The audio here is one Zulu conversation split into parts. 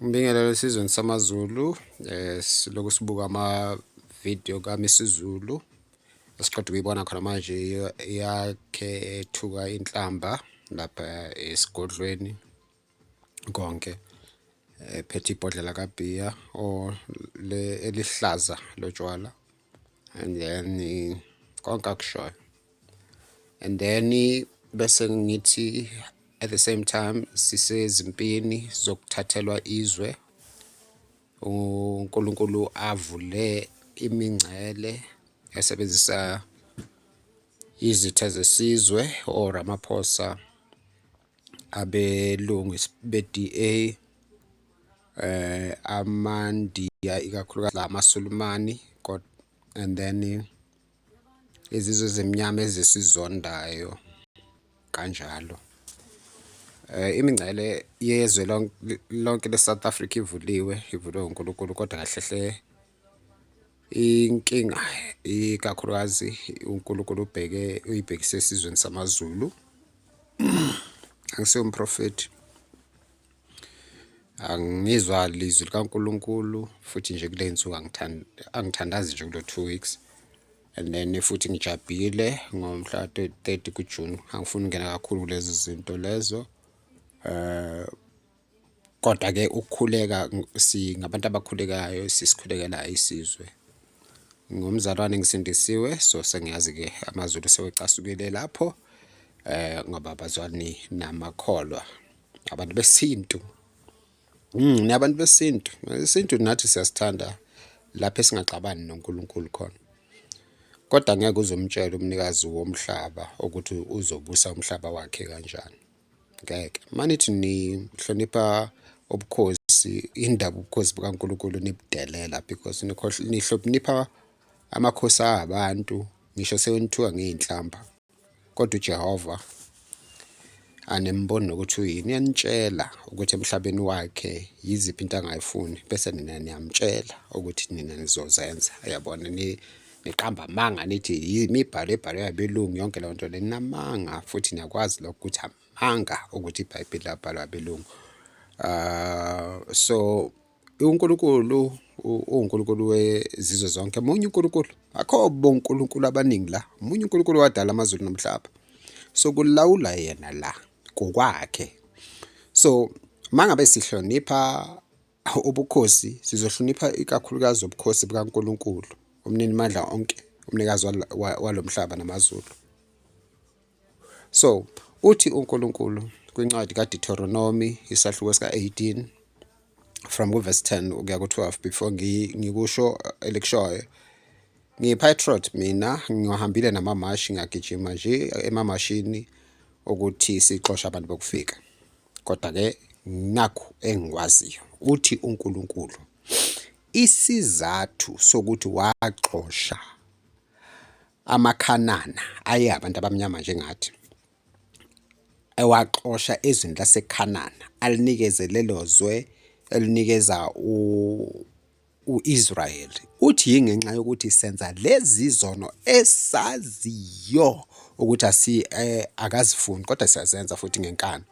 Ngibingelele esizweni samaZulu eh siloku sibuka ama video kaMisizulu esiqeda ukuyibona khona manje yakhe ethuka inhlamba lapha esigodlweni konke ephethe ibhodlela kabhiya or le elihlaza lotshwala and then eh, konke akushoyo and then eh, bese ngithi at the same time sisezimpini zokuthathelwa izwe uNkulunkulu avule imingcele esebenzisa izitha zesizwe or amaphosa abelungu be-DA eh amandiya ikakhulukazi la amasulumani and then izizwe ezimnyama ezisizondayo kanjalo eh imingcele yezwe lonke le-South Africa ivuliwe ivulwe uNkulunkulu kodwa kahle hle inkinga ikakhulukazi uNkulunkulu ubheke uyibhekise esizweni samaZulu angisiyo umprofethi angizwa lizwi likaNkulunkulu futhi nje kule nsuku angithandazi nje kulo two weeks and then futhi ngijabhile ngomhla 30 kuJune angifuni ukungena kakhulu kulezi zinto lezo eh kodwa ke ukukhuleka singabantu abakhulekayo sisikhulekela isizwe ngumzalwane ngisindisiwe so sengiyazi ke amazulu sewecasukile lapho eh ngoba bazwani namakholwa abantu besintu mm nabantu besintu isintu nathi siyasithanda lapho esingaxabani noNkulunkulu khona kodwa ngeke uzomtshela umnikazi womhlaba ukuthi uzobusa umhlaba wakhe kanjani ngeke manithi nihlonipha ubukhosi indaba ubukhosi bukaNkulunkulu nibudelela because nihlonipha amakhosi abantu ngisho sewenithiwa ngey'nhlamba kodwa uJehova anemboni nokuthi uyini uyanitshela ukuthi emhlabeni wakhe yiziphi into angayifuni bese nina niyamtshela ukuthi nina nizozenza yabona niqamba amanga nithi yimibhalo ebhalwe abelungu yonke leyo nto ninamanga futhi niyakwazi lokho ukuthi amanga ukuthi ibhayibheli labhalwa abelungu uh, so uNkulunkulu uNkulunkulu wezizwe zonke munye uNkulunkulu akho bonkulunkulu abaningi la munye uNkulunkulu wadala amazulu nomhlaba so kulawula yena la kokwakhe so mangabe sihlonipha Ubukhosi sizohlonipha ikakhulukazi ubukhosi bukaNkulunkulu umnini mandla onke umnikazi walomhlaba namazulu so uthi uNkulunkulu kwincwadi kaDeuteronomy isahluko sika-18 from kuverse 10 ukuya ku-12 before ngikusho uh, elikushoyo ngiyi-patriot mina ngiwahambile namamashi ngagijima nje emamashini ukuthi sixoshe abantu bokufika kodwa ke nakho engikwaziyo uthi uNkulunkulu isizathu sokuthi waxosha amakhanana aye abantu abamnyama njengathi ewaxosha ezweni lasekhanana alinikeze lelo zwe elinikeza u-Israyeli uthi yingenxa yokuthi senza lezi zono esaziyo ukuthi asi eh, akazifuni kodwa siyazenza futhi ngenkani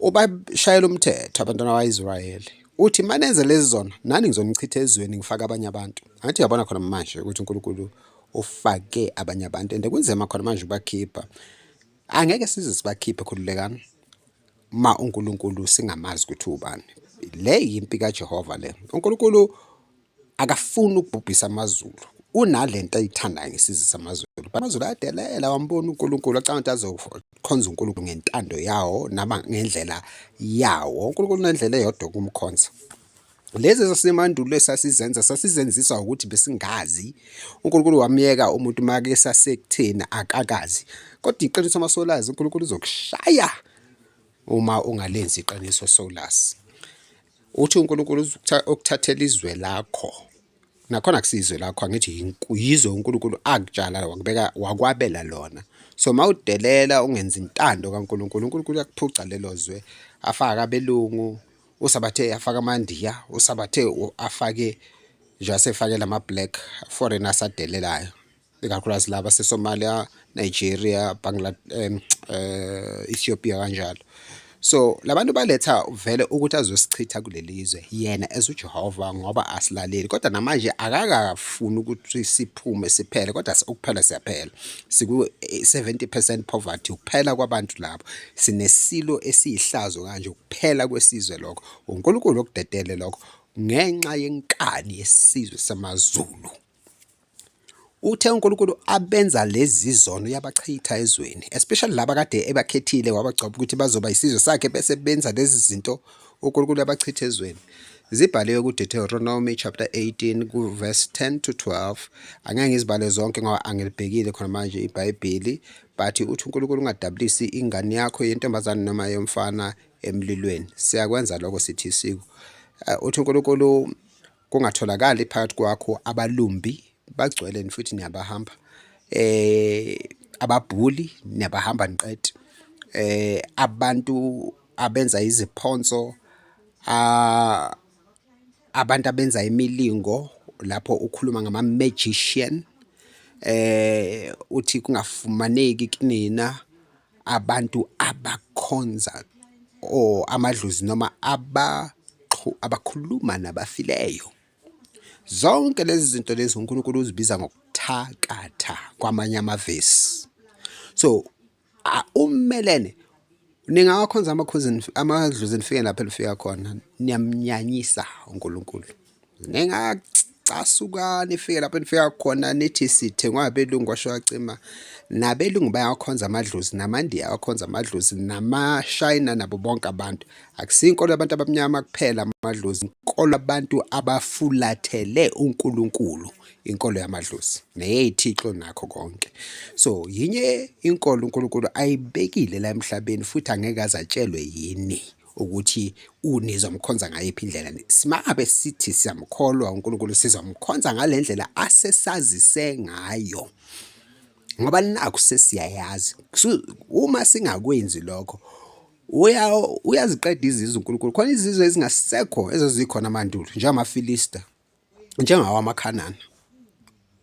ubashayela umthetho abantwana bakwa-Israyeli uthi manenze lezi zono nani ngizonichitha ezweni ngifake abanye abantu angithi uyabona khona manje ukuthi uNkulunkulu ufake abanye abantu and kunzima khona manje ukubakhipha angeke size sibakhiphe khululekani uma uNkulunkulu singamazi ukuthi ubani le yimpi kaJehova le uNkulunkulu akafuni ukubhubhisa amazulu unalento ayithandayo ngesizwe samazulu amazulu ayadelela wambona uNkulunkulu acanga ukuthi azokhonza uNkulunkulu ngentando yawo naba ngendlela yawo uNkulunkulu unendlela eyodwa kumkhonza Lezi zasemandulo esasizenza sasizenziswa ukuthi besingazi. UNkulunkulu wamyeka umuntu make sasekutheni akakazi. Kodwa iqiniso uma solazi uNkulunkulu uzokushaya uma ungalenzi iqiniso solazi. Uthi uNkulunkulu ukuthathela izwe lakho. nakhona kusizwe lakho angithi yizwe uNkulunkulu akutshala wakubeka wakwabela lona so mawudelela ungenza intando kaNkulunkulu uNkulunkulu uyakuphuca lelo zwe afaka abelungu usabathe afaka amandiya usabathe afake nje asefake lama black foreigners adelelayo ikakhulukazi laba seSomalia, Nigeria, Bangladesh, um, uh, Ethiopia kanjalo. So labantu baletha vele ukuthi azosichitha kulelizwe yena as uJehova ngoba asilaleli kodwa namanje akakafuni ukuthi siphume siphele kodwa ukuphela siyaphela siku 70% poverty ukuphela kwabantu labo sinesilo esiyihlazo kanje ukuphela kwesizwe lokho uNkulunkulu okudedele lokho ngenxa yenkani yesizwe samaZulu Uthe uNkulunkulu abenza lezi zono yabachitha ezweni especially laba kade ebakhethile wabagcoba ukuthi bazoba isizwe sakhe bese benza lezi zinto uNkulunkulu abachitha ezweni zibhaliwe kuDeuteronomy chapter 18 kuverse 10 to 12 angeke ngizibale zonke ngoba angilibhekile khona manje iBhayibheli but uthi uNkulunkulu ungadabulisi ingane yakho yentombazane noma yomfana emlilweni siyakwenza lokho sithi siku uh, uthi uNkulunkulu kungatholakali phakathi kwakho abalumbi bagcwele futhi niyabahamba eh ababhuli niyabahamba niqede eh abantu abenza iziphonso abantu abenza imilingo lapho ukhuluma ngama magician eh uthi kungafumaneki kunina abantu abakhonza or amadlozi noma abakhuluma nabafileyo zonke lezi zinto lezi uNkulunkulu uzibiza ngokuthakatha kwamanye amavesi so umelene ningawakhonza amakhozi amadlozi nifike lapho elifika khona niyamnyanyisa uNkulunkulu ningacasukani fike lapho nifika khona nithi sithengwa abelungu washo wacima nabelungu bayawakhonza amadlozi namandiya awakhonza amadlozi namashayina nabo bonke abantu akusiyo inkolo yabantu abamnyama kuphela amadlozi inkolo abantu abafulathele unkulunkulu inkolo yamadlozi neyeyithixo nakho konke so yinye inkolo unkulunkulu ayibekile la emhlabeni futhi angeke azatshelwe yini ukuthi unizomkhonza ngayiphi indlela simabe sithi siyamkholwa uNkulunkulu sizomkhonza ngalendlela asesazise ngayo ngoba naku sesiyayazi uma singakwenzi lokho uya uyaziqeda izizwe uNkulunkulu khona izizwe ezingasekho ezazikhona amandulo njengamaFilista njengawo amakhanana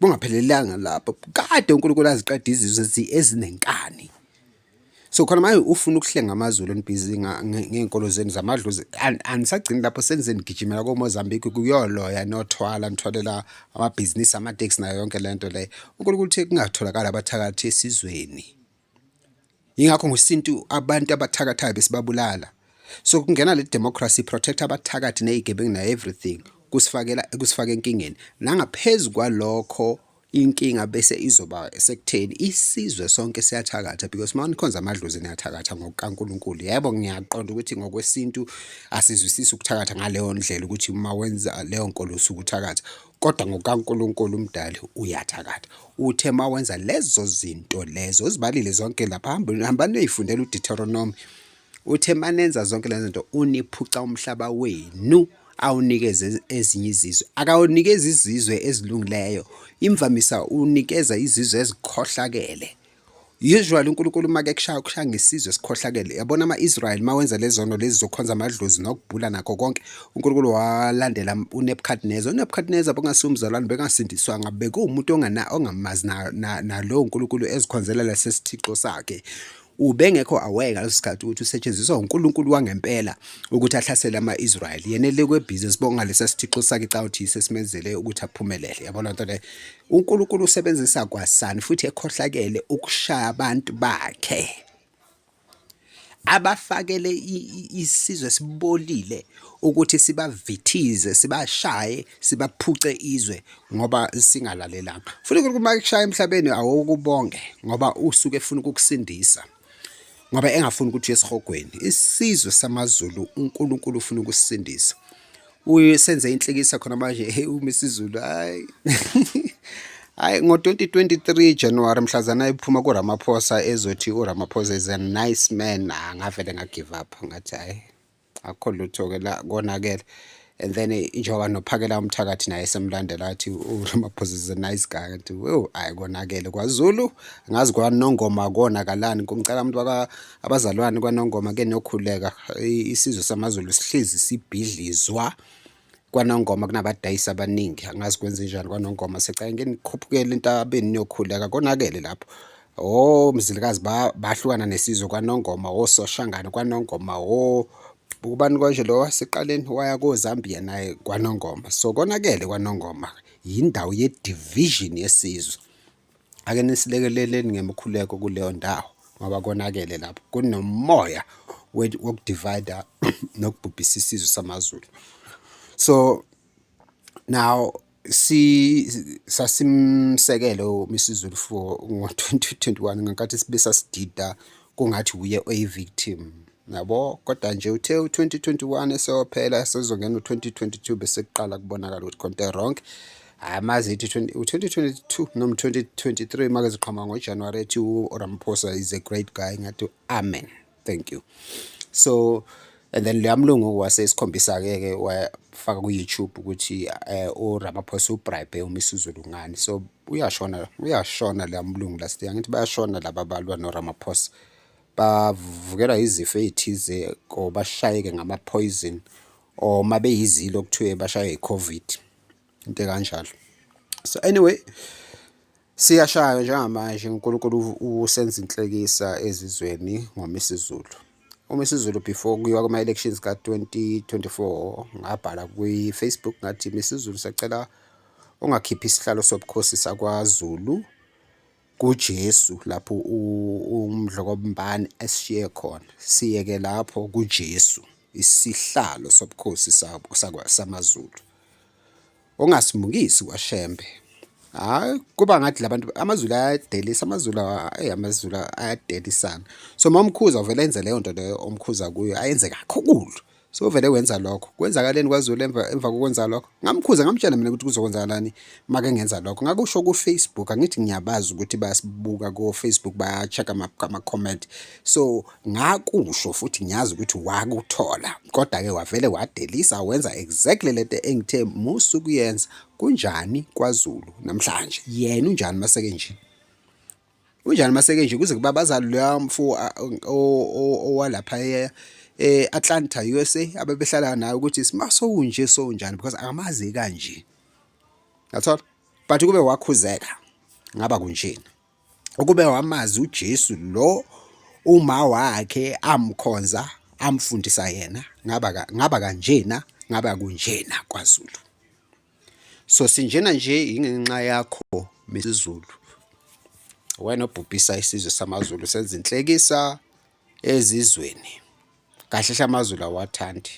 kungaphelelanga lapho kade uNkulunkulu aziqeda izizwe ezinenkani so khona manje ufuna ukuhlenga amazulu enibhizi ngey'nkolo zenu zamadlozi anisagcini lapho senizeni nigijimela komozambique kuyoloya nothwala nithwalela amabhizinisi amateksi nayo yonke le nto leyo unkulunkulu uthe kungatholakali abathakathi esizweni yingakho ngosintu abantu abathakathayo besibabulala so kungena le democracy protect abathakathi nezigebengu na everything kusifakela kusifaka enkingeni nangaphezulu kwalokho inkinga bese izoba sekutheni isizwe sonke siyathakatha because uma nikhonza amadlozi niyathakatha ngokukaNkulunkulu yebo ngiyaqonda ukuthi ngokwesintu asizwisisi ukuthakatha ngaleyo ndlela ukuthi uma wenza leyo nkolo usukuthakatha kodwa ngokaNkulunkulu umdali uyathakatha uthe uma wenza lezo zinto lezo uzibalile zonke lapha hamba niyoyifundela uDeuteronomy uthe manenza zonke lezo zinto uniphuca umhlaba wenu awunikeze ezinye izizwe akawunikeza izizwe ezilungileyo imvamisa unikeza izizwe ezikhohlakele Usually uNkulunkulu uma kekushaya ukushaya ngesizwe sikhohlakele. Yabona ama-Israyeli uma wenza lezono lezi zokukhonza amadlozi nokubhula nakho konke, uNkulunkulu walandela uNebukadneza. UNebukadneza bongasiwo umzalwane bengasindiswanga, bekuwumuntu ongamazi nalowo Nkulunkulu ezikhonzela lesi sithixo sakhe ubengekho aware ngaleso sikhathi ukuthi usetshenziswa uNkulunkulu wangempela ukuthi ahlasele ama-Israyeli yena elekwe busy sibonga lesa sithixo sakhe cawuthi yisesimenzele ukuthi aphumelele yabona nto le uNkulunkulu usebenzisa kwasani futhi ekhohlakele ukushaya abantu bakhe abafakele isizwe sibolile ukuthi sibavithize sibashaye sibaphuce izwe ngoba singalalelanga futhi uNkulunkulu uma ekushaya emhlabeni awokubonge ngoba usuke efuna ukukusindisa ngoba engafuni ukuthi uyesihogweni isizwe samaZulu uNkulunkulu ufuna ukusindisa usenze inhlikisa khona manje hey uma isizulu hayi hayi ngo-2023 January mhlazana ephuma kuRamaphosa ezothi uRamaphosa is a nice man ah, ngavele ngagive up ngathi hayi akukho lutho ke la konakele and then eh, njengoba nophakela umthakathi naye semlandela athi uramaphosa is a nice guy kanti oh hayi konakele kwazulu ngazi kwanongoma konakalani kumcela umuntu waka abazalwane kwanongoma ke nokhuleka isizwe samazulu sihlezi sibhidlizwa kwanongoma kunabadayisi abaningi angazi kwenze njani kwanongoma secake ngenikhuphukele entabeni niyokhuleka konakele lapho o oh, mzilikazi bahlukana nesizwe kwanongoma ososhangane oh, kwanongoma o oh, ubani konje lo waseqaleni waya kozambia naye kwanongoma so konakele kwanongoma yindawo ye-division yesizwe ake nisilekeleleni ngemkhuleko kuleyo ndawo ngoba konakele lapho kunomoya wokudivida nokubhubhisa isizwe samazulu so now si sasimsekele uMisizulu for ngo-2021 ngenkathi sibe sasidida kungathi wuye oyi-victim yabo kodwa nje uthe u-2021 eseyophela sezongena u-2022 besekuqala kubonakala ukuthi konke wrong amazi ithi u-2022 noma 2023 make ziqhama ngojanuwari ethi uramaphosa is a great guy ngathi amen thank you so and then leya mlungu wase sikhombisa ke ke wafaka ku YouTube ukuthi eh, u Ramaphosa u bribe uMisuzulu ngani so uyashona uyashona leya mlungu last year ngithi bayashona laba balwa no Ramaphosa bavukela izifo ezithize ko bashayeke ngama poison or mabe yizilo kuthiwe bashaye iCovid into kanjalo so anyway Siyashaywa njengamanje uNkulunkulu usenza inhlekisa ezizweni ngoma isiZulu. Uma isiZulu before kuyiwa kuma-elections ka-2024 ngabhala kwi-Facebook ngathi misiZulu sacela ungakhiphi isihlalo sobukhosi sakwaZulu kuJesu lapho uMdlokombane esishiye khona. Siyeke lapho kuJesu isihlalo sobukhosi samaZulu. ongasimukisi kwaShembe. Hayi kuba ngathi labantu amaZulu ayadelisa amaZulu hey amaZulu ayadelisana. So mamkhuza uvela enze leyo nto leyo omkhuza kuyo ayenze kakhulu. So vele wenza lokho. Kwenzakaleni kwaZulu emva emva kokwenza lokho? Ngamkhuza ngamtshela mina ukuthi kuzokwenzakalani make ngenza lokho. Ngakusho ku Facebook angithi ngiyabazi ukuthi bayasibuka ko Facebook baya check ama comment. so ngakusho futhi ngiyazi ukuthi wakuthola kodwa ke wavele wadelisa wenza exactly lento engithe musu kuyenza kunjani kwaZulu namhlanje yena unjani maseke nje unjani maseke nje kuze kuba bazali loya mfo owalapha e, e Atlanta USA abebehlala naye ukuthi simaso unje so unjani because akamazi kanje ngathola but kube wakhuzeka ngaba kunjena ukube wamazi uJesu lo uma wakhe amkhonza amfundisa yena ngaba ngaba kanjena ngaba kunjena kwaZulu so sinjena nje ingenxa yakho misiZulu wena obhubhisa isizwe samaZulu senza inhlekisa ezizweni kahle hle amazulu awathandi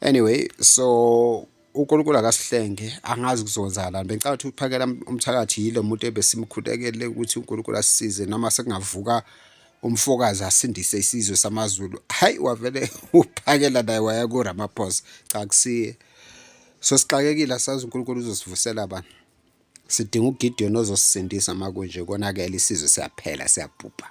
anyway so uNkulunkulu akasihlenge angazi kuzonzakalani bengicabanga ukuthi uphakela umthakathi yilo muntu ebesimkhutekele ukuthi uNkulunkulu asisize noma sekungavuka umfokazi asindise isizwe samaZulu hayi wavele uphakela naye waya kuRamaphosa cha kusiye so sixakekile asazi uNkulunkulu uzosivusela bani sidinga uGideon ozosisindisa makunje konakele isizwe siyaphela siyabhubha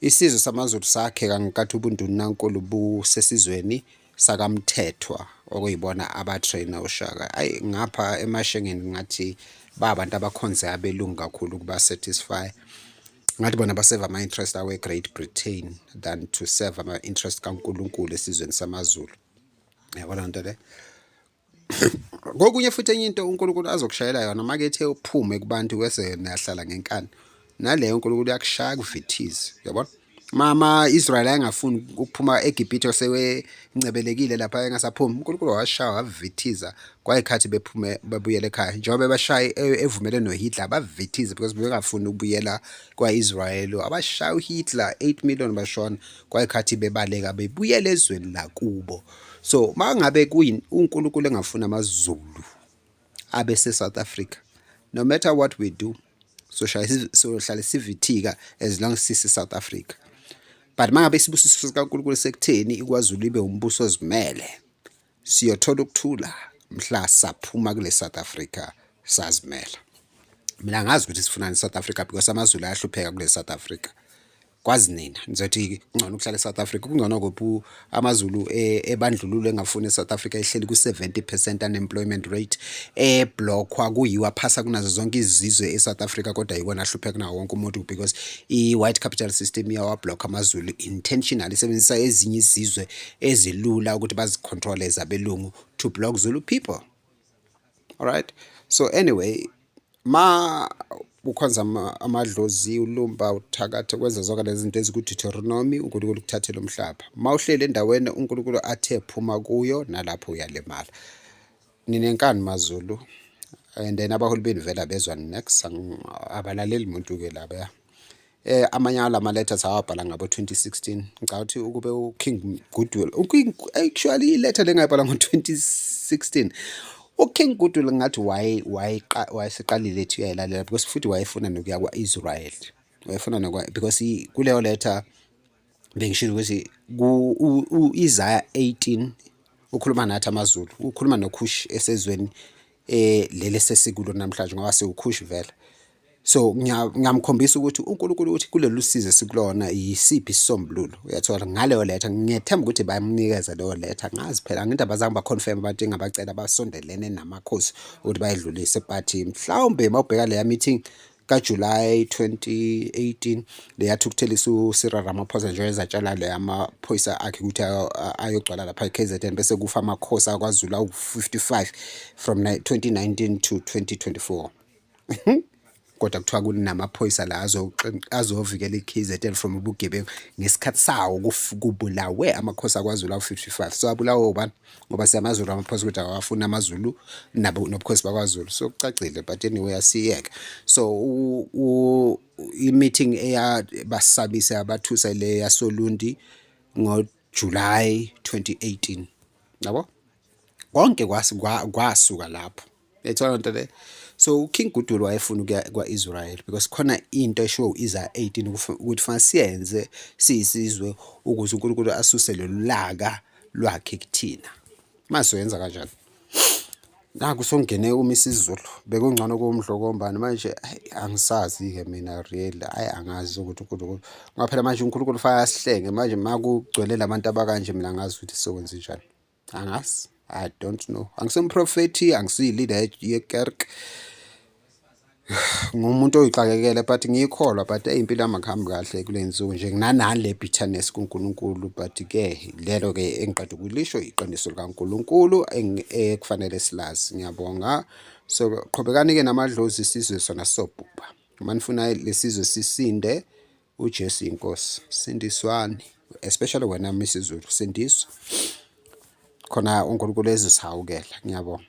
Isizwe samaZulu sakheka ngenkathi ubundunankulu busesizweni sakamthethwa okuyibona abatrainer ushaka ayi ngapha emashengeni ngathi ba abantu abakhonze abelungu kakhulu ukuba satisfy ngathi bona baseva ama-interest awe great britain than to serve ama-interest kankulunkulu esizweni samazulu yabona nto le kokunye futhi enye into uNkulunkulu azokushayela yona make ethe uphume kubantu wese yena yahlala ngenkani naleyo uNkulunkulu uyakushaya kuvithize yabona mama Israel ayengafuni ukuphuma eGibhithe osewencebelekile lapha engasaphumi uNkulunkulu washaya wavithiza kwayikhathi bephume babuyele ekhaya njengoba bashaye e-, evumele noHitler bavithize because bebengafuni ukubuyela kwaIsrael abashaya uHitler 8 million bashona kwayikhathi bebaleka bebuyele ezweni lakubo so mangabe kuyini uNkulunkulu engafuna amaZulu abe se South Africa no matter what we do so sohlale sivithika as long sisi South Africa but mangabe isibusiso sikaNkulunkulu sekutheni ikwaZulu ibe umbuso ozimele siyothola ukuthula mhla saphuma kule South Africa sazimela mina ngazi ukuthi sifunani South Africa because amaZulu ayahlupheka kule South Africa kwazi nina nizothi kungcono ukuhlala eSouth Africa kungcono kuphi amaZulu e, ebandlululo engafuni eSouth Africa ehleli ku-70% unemployment rate eblockwa kuyiwa phasa kunazo zonke izizwe eSouth Africa kodwa yikona ahlupheka kunawo wonke umuntu because i-white capital system iyawablock amaZulu intentional isebenzisa ezinye izizwe ezilula ukuthi bazicontrole zabelungu to block Zulu people all right so anyway ma ukhonza amadlozi ulumba uthakathe kwenza zonke lezi zinto ezikuDeuteronomi uNkulunkulu ukuthathela umhlaba ma uhleli endaweni uNkulunkulu athe phuma kuyo nalapho uyalimala ninenkani mazulu and then abaholi benu vela bezwa next abalaleli muntu-ke laba eh amanye ala ma letters awabhala ngabo 2016 ngicabanga ukuthi ukube u King Goodwill actually i letter lengayibhala ngo 2016 uKing Goodwill ngathi waye wayeseqalile ethi uyayilalela because futhi wayefuna nokuya kwa-Israel wayefuna nokwa because kuleyo letter bengishilo ukuthi ku-Isaya 18 ukhuluma nathi amaZulu ukhuluma noKhush esezweni eh leli sesikulo namhlanje ngoba siwukhush vela so ngiyamkhombisa ukuthi uNkulunkulu uthi kulolu size sikulona yisiphi isisombululo uyathola ngaleyo letha ngiyethemba ukuthi bayamnikeza leyo letha ngazi phela ngithi abazange baconfirm abantu engabacela basondelene namakhosi ukuthi bayedlulise but mhlawumbe mawubheka leya meeting kaJulayi 2018 leyathukuthela uSira Ramaphosa njengoba ezatshala le amaphoyisa akhe ukuthi ayogcwala lapha eKZN bese kufa amakhosi akwaZulu awu-55 from 2019 to 2024 kodwa kuthiwa kunamaphoyisa la azovikela i-KZN from ubugebengu ngesikhathi sawo kubulawe amakhosi akwaZulu awu-55 so abulawe ubani ngoba siyamazulu amaphosa ukuthi awafuni amazulu nabo nobukhosi bakwaZulu so kucacile but anyway asiyeke so i-meeting eyabasabisa yabathusa le yasolundi ngoJuly 2018 yabo konke kwasuka lapho yayithola lento le so uking gudul wayefuna ukuya kwa-israel because khona into eshiwo u-isaya 18 ukuthi fanele siyenze siyisizwe ukuze unkulunkulu asuse lolu laka lwakhe kuthina mase soyenza kanjani naku songene uma isizulu bekungcono kumdlokombani manje angisazi-ke mina real ayi angazi ukuthi unkulunkulu ngaphela manje unkulunkulu fake asihlenge manje makugcwele la bantu abakanje mina angazi ukuthi sokwenze njani angazi i don't know angisemprofethi angisiyi-leader yekerk ngumuntu oyixakekele but ngiyikholwa but eyimpilo yami akuhambi kahle kule nsuku nje nginanani le bitterness kuNkulunkulu but ke lelo ke engiqeda ukulisho iqiniso likaNkulunkulu ekufanele eh, silazi ngiyabonga so qhubekani ke namadlozi isizwe sona sobhubha uma nifuna lesizwe sisinde uJesu inkosi sindiswani especially wena Mrs Zulu sindiswa khona uNkulunkulu ezisihawukela ngiyabonga